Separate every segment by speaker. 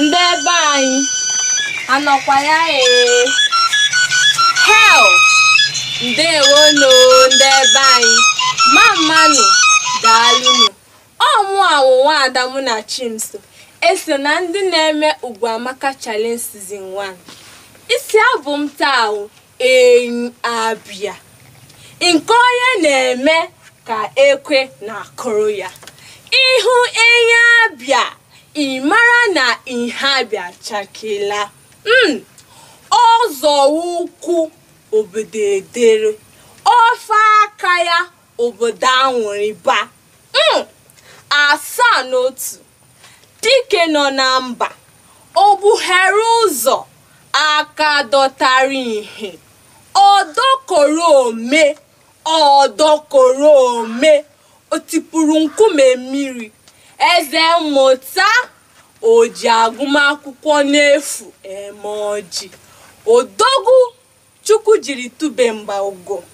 Speaker 1: ndị ebe anyị anọkwa ya ee hel ndewonu ndị ebe anyị mamma nụ daalụnụ ọ mụa wụ nwaada Munachimso eso na ndị na-eme ugwu amaka challenge season 1 isi abụ m taa wụ Enyi Abia nke onye na-eme ka ekwe na-akụrụ ya ị hụ Enyi Abia ị mara na ihe Abia chakeela hmm, ọ zọọ ụkwụ obodo edere o fee aka ya obodo anwụrịba Mm, asaa n'otu dike nọ na mba o gbughere ụzọ aka dọtara ihe ọdọkọrọ ome ọdọkọrọ ome o tipụrụ nkume mmiri eze mmụta o ji agụmakwụkwọ n'efu eme ọjị odogwu Chukwu jiri tube mba ugo.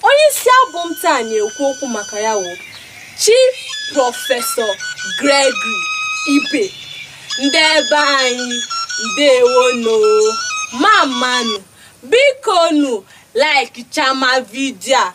Speaker 1: Onye isi abụ m taa na-ekwu okwu maka ya wụ Chief Prọfesọ Gregory Ibe. Ndị ebe anyị ndewonu mamma nụ biko nu like chama vidio a